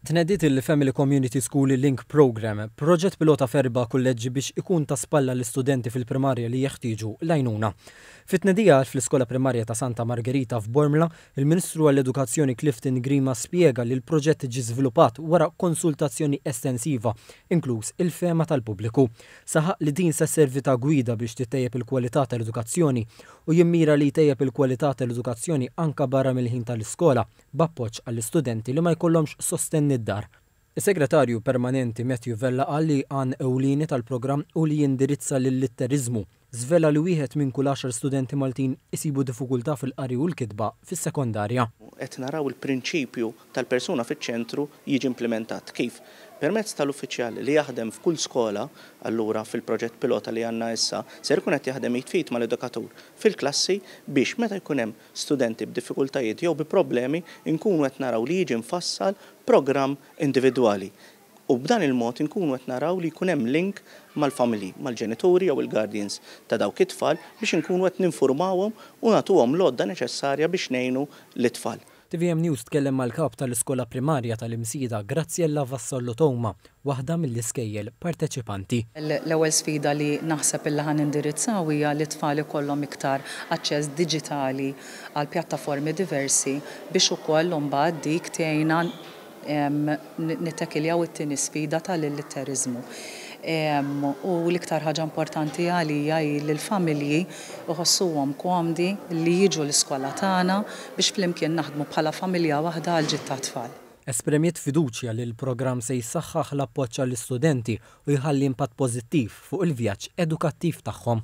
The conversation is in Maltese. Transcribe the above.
Tnediet il-Family Community School Link Programme, proġett pilota f'erba' kulleġġi biex ikun ta' spalla lis-studenti fil-primarja li jeħtieġu l-għajnuna. Fit-tnedija fl-Iskola Primarja ta' Santa Margerita f'Bormla, il-Ministru għall-Edukazzjoni Clifton Grima spjega li l-proġett ġie żviluppat wara konsultazzjoni estensiva, inkluż il-fehma tal-pubbliku. Saħaq li din se sservi ta' gwida biex tittejjeb il-kwalità tal-edukazzjoni u jimmira li jtejjeb il-kwalità tal-edukazzjoni anke barra mill-ħin tal-iskola. b'appoġġ għall-istudenti li ma jkollhomx sostenn mid-dar. Is-Segretarju Permanenti Matthew Vella qal li għan ewlieni tal-programm hu li jindirizza l-illitteriżmu. Żvela li wieħed minn kull għaxar studenti Maltin isibu difukultà fil-qari u l-kitba fis-sekondarja. Qed naraw il-prinċipju tal-persuna fiċ-ċentru jiġi implimentat. Kif? Permezz tal-uffiċjal li jaħdem f'kull skola, allura fil-proġett pilota li għandna issa, ser ikun qed jaħdem id f'id mal-edukatur fil-klassi biex meta jkun hemm studenti b'diffikultajiet jew bi problemi nkunu qed naraw li jiġi mfassal programm individwali u b'dan il-mod inkunu qed naraw li jkun hemm link mal-familji, mal-ġenituri jew il-guardians ta' dawk it-tfal biex inkunu qed ninfurmawhom u nagħtuhom l-għodda neċessarja biex ngħinu lit-tfal. Tvm News tkellem mal-Kap tal-Iskola Primarja tal-Imsida, Graziella Vassallo Touma, waħda mill-iskejjel parteċipanti. L-ewwel sfida li naħseb illi ħa nindirizzaw hija li t-tfal ikollhom iktar aċċess diġitali għal pjattaformi diversi biex ukoll imbagħad dik tgħinna nittekiljaw it-tieni sfida tal-illitteriżmu. U l-iktar ħaġa importanti għalija hi li l-familji jħossuhom komdi li jiġu l-iskola tagħna biex flimkien naħdmu bħala familja waħda għall-ġid tat-tfal. Esprimiet fiduċja li l-programm se jsaħħaħ l-appoġġ għall-istudenti u jħalli impatt pożittiv fuq il-vjaġġ edukattiv tagħhom.